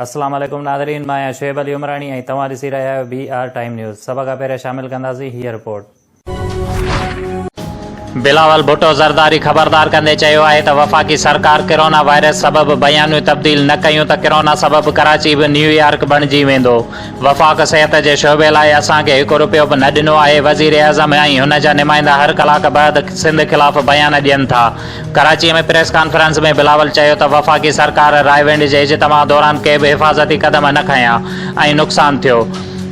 السلام عليڪم ناظرين مان آهيان شعيب علي عمراڻي ۽ توهان ڏسي رهيا آهيو بي آر ٽائيم نيوز سڀ کان پهريان شامل ڪنداسين هيء رپورٽ. بلاول ڀٽو زرداري خبردار ڪندي چيو آهي ته وفاقي سرڪار ڪرونا وائرس سبب بيانيون تبديل نه ڪيون ته ڪرونا سبب ڪراچي به نيويارڪ بڻجي ويندو، وفاق صحت جي شعبي لاء اسان کي هڪ رپيو به نه ڏنو آهي، وزيراعظم ۽ هن جا نمائندا هر ڪلاڪ بعد سنڌ خلاف بيان ڏين ٿا. ڪراچي ۾ پريس ڪانفرنس ۾ بلاول چيو ته وفاقي سرڪار رائيونڊ جي اجتماع دوران ڪي به حفاظتي قدم نه کنيا ۽ نقصان ٿيو.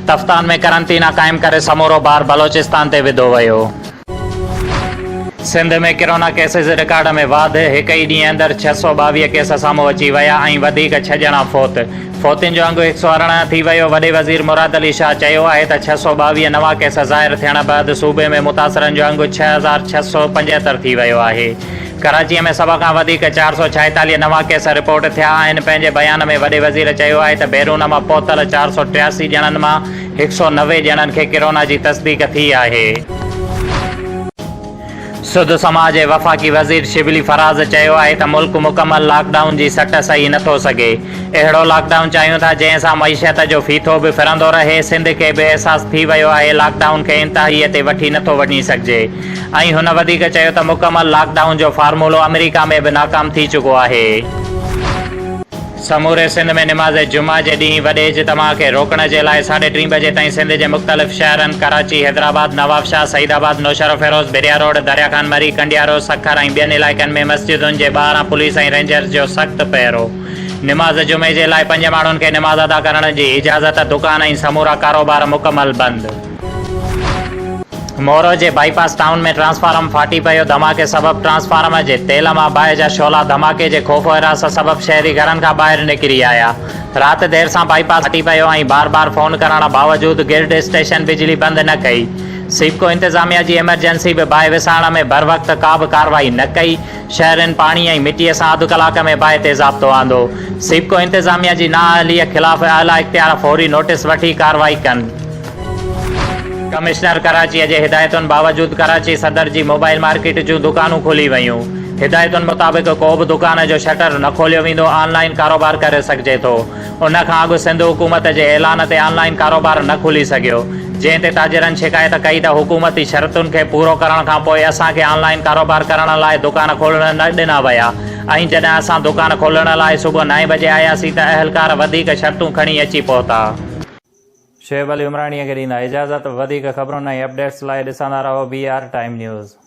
تفتان ۾ قرنطينه قائم ڪري سمورو بار بلوچستان تي وڌو ويو. سنڌ ۾ ڪرونا ڪيسز رڪارڊ ۾ واڌ، هڪ ئي ڏينهن اندر ڇهه سؤ ٻاويهه ڪيس سامهون اچي ويا ۽ وڌيڪ ڇهه ڄڻا فوت، فوتين جو انگ هڪ سؤ ارڙهن ٿي ويو، وڏي وزير مراد علي شاهه چيو آهي ته ڇهه سؤ ٻاويهه نوان ڪيس ظاهر ٿيڻ بعد صوبي ۾ متاثرن جو انگ ڇهه هزار ڇهه سؤ پنجهتر ٿي ويو آهي، ڪراچي ۾ سڀ کان وڌيڪ چار سؤ ڇائيتاليهه نوان ڪيس رپورٽ ٿيا آهن، پنهنجي بيان ۾ وڏي وزير چيو آهي ته بيرون مان پهتل چار سؤ ٽياسي ڄڻن مان هڪ سؤ نوي ڄڻن کي ڪرونا جي تصديق ٿي آهي. سڌ سماء جي وفاقي وزير شبلي فراز چيو آهي ته ملڪ مڪمل لاڪ ڊائون جي سٽ سهي نٿو سگهي، اهڙو لاڪ ڊائون چاهيون ٿا جنهن سان معيشت جو ڦيٿو به ڦرندو رهي، سنڌ کي به احساس ٿي ويو آهي لاڪ ڊائون کي انتهائي تي وٺي نٿو وڃي سگهجي ۽ هن وڌيڪ چيو ته مڪمل لاڪ ڊائون جو فارمولو آمريڪا ۾ به ناڪام ٿي چڪو آهي. سموري سنڌ ۾ نماز جمعه جي ڏينهن وڏي اجتماع کي روڪڻ جي لاء ساڍي ٽين بجي تائين سنڌ جي مختلف شهرن ڪراچي، حيدرآباد، نوابشاهه، سعيد آباد، نوشهروفيروز، بحريا روڊ، دريا خان مري، ڪنڊيارو، سکر ۽ ٻين علائقن ۾ مسجدن جي ٻاهران پوليس ۽ رينجرز جو سخت پهرو. نماز جمعي جي لاء پنج ماڻهن کي نماز ادا ڪرڻ جي اجازت، دڪان ۽ سمورا ڪاروبار مڪمل بند. مورو جي بائي پاس ٽائون ۾ ٽرانسفارم ڦاٽي پيو، ڌماڪي سبب ٽرانسفارم جي تيل مان باهه جا شعلا ڌماڪي جي خوف و حراس سبب شهري گهرن کان ٻاهر نڪري آيا، رات دير سان بائي پاس ڦاٽي پيو ۽ بار بار فون ڪرڻ باوجود گرڊ اسٽيشن بجلي بند نه ڪئي، سيپڪو انتظاميا جي ايمرجنسي به باهه وسائڻ ۾ بروقت ڪابه ڪارروائي نه ڪئي، شهرين پاڻي ۽ مٽي سان اڌ ڪلاڪ ۾ باهه تي ضابطو آندو، سيپڪو انتظاميا جي نااهلي خلاف اعليٰ اختيار فوري نوٽيس وٺي ڪارروائي ڪن. ڪمشنر ڪراچيء جي هدايتن باوجود ڪراچي صدر جي موبائيل مارڪيٽ جون دڪانون کلي ويون، هدايتن مطابق ڪو به دڪان جو شٽر نه کوليو ويندو آن لائين ڪاروبار ڪري سگهجي ٿو، ان کان اڳ سنڌ حڪومت جي اعلان تي آن لائين ڪاروبار نه کلي سگهيو، جنهن تي تاجرن شڪايت ڪئي ته حڪومتي شرطن کي پورو ڪرڻ کان پوء اسان کي آن لائين ڪاروبار ڪرڻ لاء دڪان کولڻ نه ڏنا ويا ۽ جڏهن اسان دڪان کولڻ لاء صبح نائين بجي آياسين ته اهلڪار وڌيڪ شرطون کڻي اچي پهتا. شعيب علي عمراڻيء کي ڏيندا اجازت وڌيڪ خبرن ۽ اپڊيٽس لاء ڏسندا رهو بي آر ٽائيم نيوز.